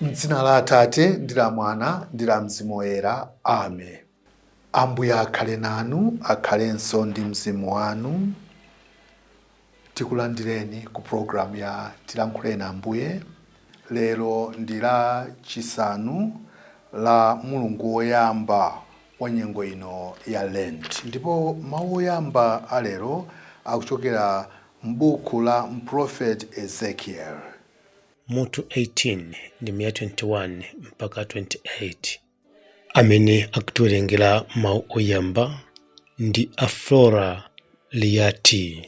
M'dzina la Atate ndi la Mwana ndi la Mzimu Woyera. Amen. Ambuye akhale nanu, akhalenso ndi mzimu wanu. Tikulandireni ku programu ya Tilankhuleni Ambuye. Lero ndi Lachisanu la mulungu woyamba wa nyengo ino ya Lent, ndipo mawu oyamba a lero akuchokera m'buku la mprofeti Ezekiel. mutu 18 ndime ya 21 mpaka 28 amene akutiwerengera mawu oyamba ndi a flora liyati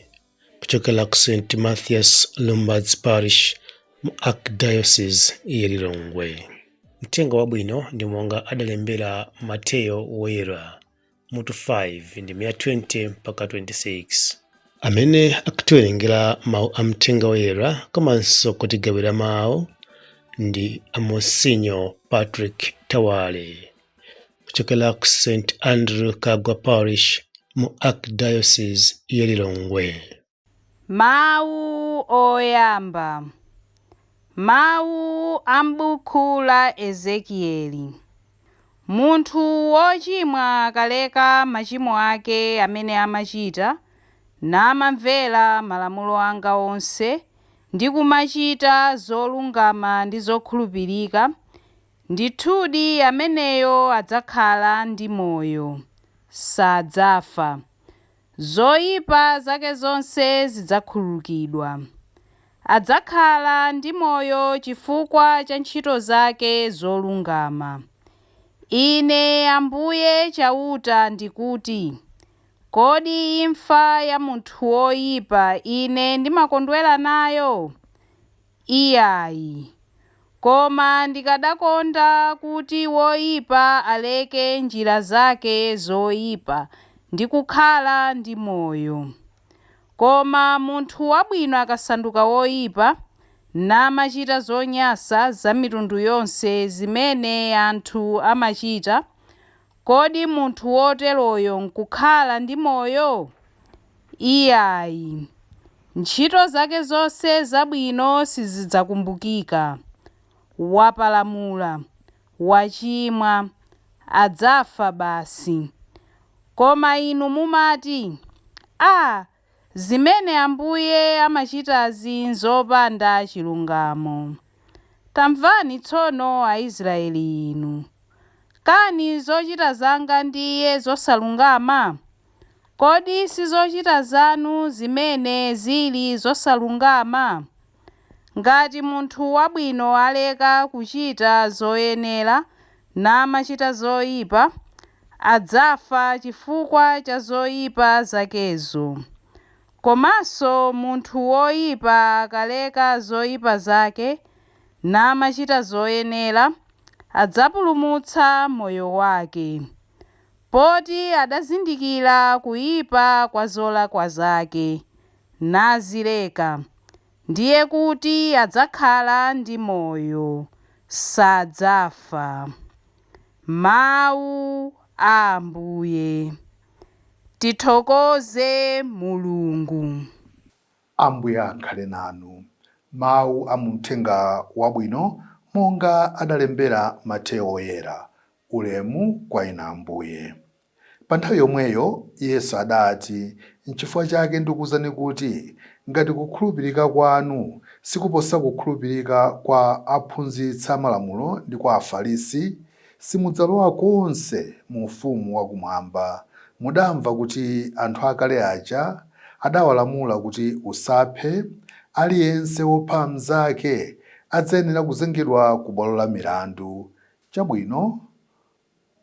kuchokera ku st mathias Lumbadzi parish mu archdiocese ya lilongwe mthenga wabwino ndi monga adalembera mateyo woyera mutu 5 ndime ya 20 mpaka 26 amene akutiwerengera mawu a mthenga woyera komanso kutigawira mawu ndi a Monsignor patrick Thawale kuchokera ku st andrew Kaggwa parish mu archdiocese ya lilongwe Mawu oyamba, mawu a m'buku la Ezekieli. Munthu wochimwa akaleka machimo ake amene amachita, namamvera malamulo anga onse, ndi kumachita zolungama ndi zokhulupirika, ndithudi ameneyo adzakhala ndi moyo, sadzafa. Zoipa zake zonse zidzakhululukidwa. Adzakhala ndi moyo chifukwa cha ntchito zake zolungama. Ine Ambuye Chauta ndikuti, Kodi imfa ya munthu woipa Ine ndimakondwera nayo? Iyayi. Koma ndikanakonda kuti woipa aleke njira zake zoipa ndi kukhala ndi moyo. Koma munthu wabwino akasanduka woipa, namachita zonyansa za mitundu yonse zimene anthu amachita, Kodi munthu woteroyo nkukhala ndi moyo? Iyayi. Ntchito zake zonse zabwino sizidzakumbukika. Wapalamula, wachimwa, adzafa basi. Koma inu mumati, Ah, Zimene Ambuye amachitazi n'zopanda chilungamo. Tamvani tsono Aisraeli inu. Kani zochita zanga ndiye zosalungama? Kodi si zochita zanu zimene zili zosalungama? Ngati munthu wabwino aleka kuchita zoyenera namachita zoipa, adzafa chifukwa cha zoipa zakezo. Komanso munthu woipa akaleka zoipa zake namachita zoyenera, adzapulumutsa moyo wake. Poti adazindikira kuipa kwa zolakwa zake, nazileka, ndiye kuti adzakhala ndi moyo, sadzafa. Mawu a Ambuye. Tithokoze Mulungu. Ambuye akhale nanu. Mawu a mu Mthenga Wabwino monga adalembera Mateyo Woyera. Ulemu kwa Inu Ambuye. Pa nthawi yomweyo Yesu adati, Nchifukwa chake ndikuuzani kuti ngati kukhulupirika kwanu sikuposa kukhulupirika kwa aphunzitsa Malamulo ndi kwa Afarisi, simudzalowa konse mu Ufumu wa Kumwamba. Mudamva kuti anthu akale aja adawalamula kuti, Usaphe, aliyense wopha mnzake adzayenera kuzengedwa ku bwalo la milandu. Chabwino.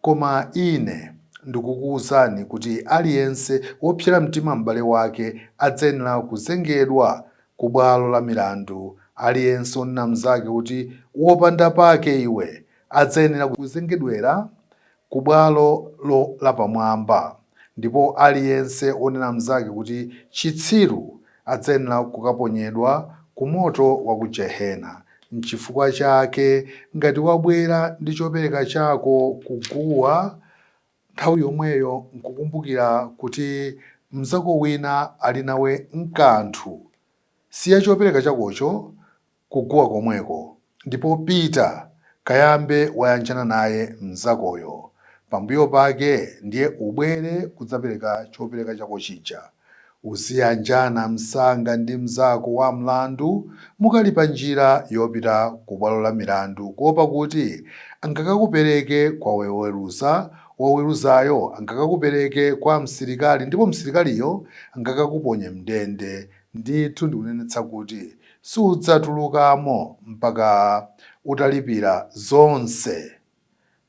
Koma Ine ndikukuuzani kuti aliyense wopsera mtima m'bale wake adzayenera kuzengedwa ku bwalo la milandu. Aliyense wonena mnzake kuti, Wopanda pake iwe! adzayenera kuzengedwera ku bwalo lapamwamba, ndipo aliyense wonena mnzake kuti, Chitsiru! Adzayenera kukaponyedwa ku moto wa ku jehena. Nchifukwa chake ngati wabwera ndi chopereka chako ku guwa, nthawi yomweyo nkukumbukira kuti mnzako wina ali nawe nkanthu, siya chopereka chakocho kuguwa komweko ndipo pita kayambe wayanjana naye mnzakoyo pambuyo pake ndiye ubwere kudzapereka chopereka chako chija. Uziyanjana msanga ndi mnzako wa mlandu mukali pa njira yopita ku bwalo la milandu kuopa kuti angakakupereke kwa woweruza, woweruzayo angakakupereke kwa msilikali ndipo msilikaliyo angakakuponye m'ndende Ndithu ndikunenetsa kuti sudzatulukamo mpaka utalipira zonse.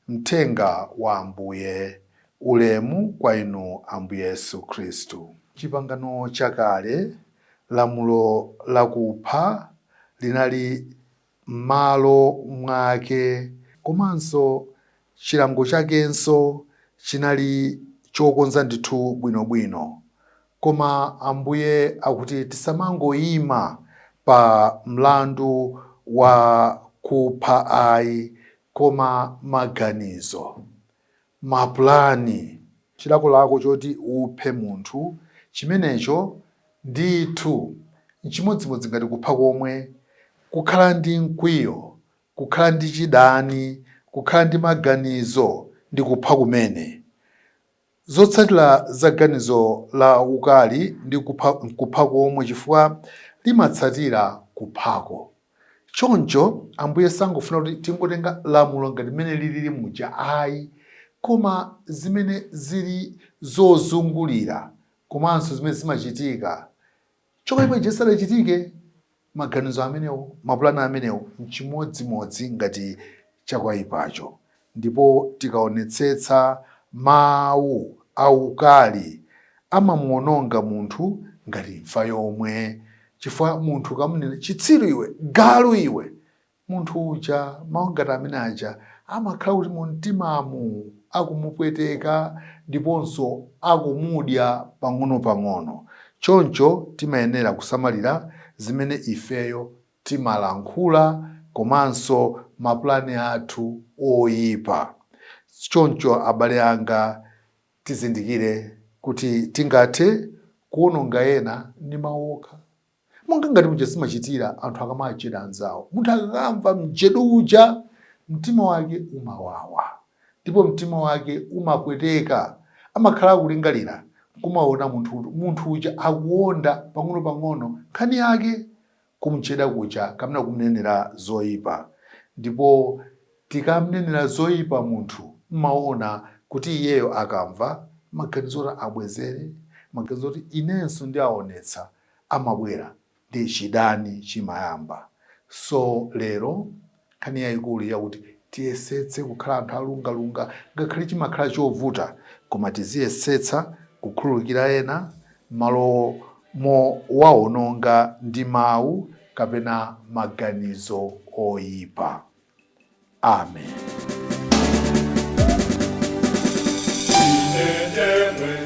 Mthenga wa Ambuye. Ulemu kwa Inu Ambuye Yesu Khristu. Chipangano Chakale, lamulo lakupha linali m'malo mwake. Komanso chilango chakenso chinali chokonza ndithu bwinobwino. Koma Ambuye akuti tisamangoima pa mlandu wa kupha ayi, koma maganizo. mapulani. Chilakolako choti uphe munthu chimenecho ndithu n'chimodzimodzi ngati kupha komwe, kukhala ndi mkwiyo, kukhala ndi chidani, kukhala ndi maganizo ndi kupha kumene. Zotsatira za ganizo la ukali ndi kupha komwe chifukwa limatsatira kuphako. Choncho, Ambuye sangofuna kuti tingotenga lamulo ngati mmene lilili muja ayi, koma zimene zili zozungulira komanso zimene zimachitika chakwaipa chija chisadachitike. Maganizo amenewo, mapulani amenewo n'chimodzimodzi ngati chakwaipacho Ndipo tikaonetsetsa, mawu aukali amamuwononga munthu ngati imfa yomwe, chifukwa munthu ukamunena, chitsiru iwe, galu iwe, munthu uja mawu ngati amene aja amakhala kuti mumtimamu akumupweteka ndiponso akumudya pang'onopang'ono. Choncho timayenera kusamalira zimene ifeyo timalankhula komanso mapulani athu oipa. Choncho abale anga, tizindikire kuti tingathe kuwononga ena ndi mawu okha, monga ngati muja zimachitira anthu akamajeda anzawo. Munthu akakamva mjedo uja, mtima wake umawawa ndipo mtima wake umapweteka. Amakhala akulingalira n'kumaona munthu uja akuonda pang'onopang'ono nkhani yake kumjeda kuja kapena kumnenera zoipa. Ndipo tikamnenera zoipa munthu mmaona kuti iyeyo akamva, maganizo oti abwezere, maganizo akuti inenso ndiaonetsa amabwera ndi chidani chimayamba. So lero Nkhani yaikulu ndi yakuti tiyesetse kukhala anthu olungalunga ngakhale chimakhala chovuta koma tiziyesetsa kukhululukira ena mmalo mowaononga ndi mau kapena maganizo oipa. Amen.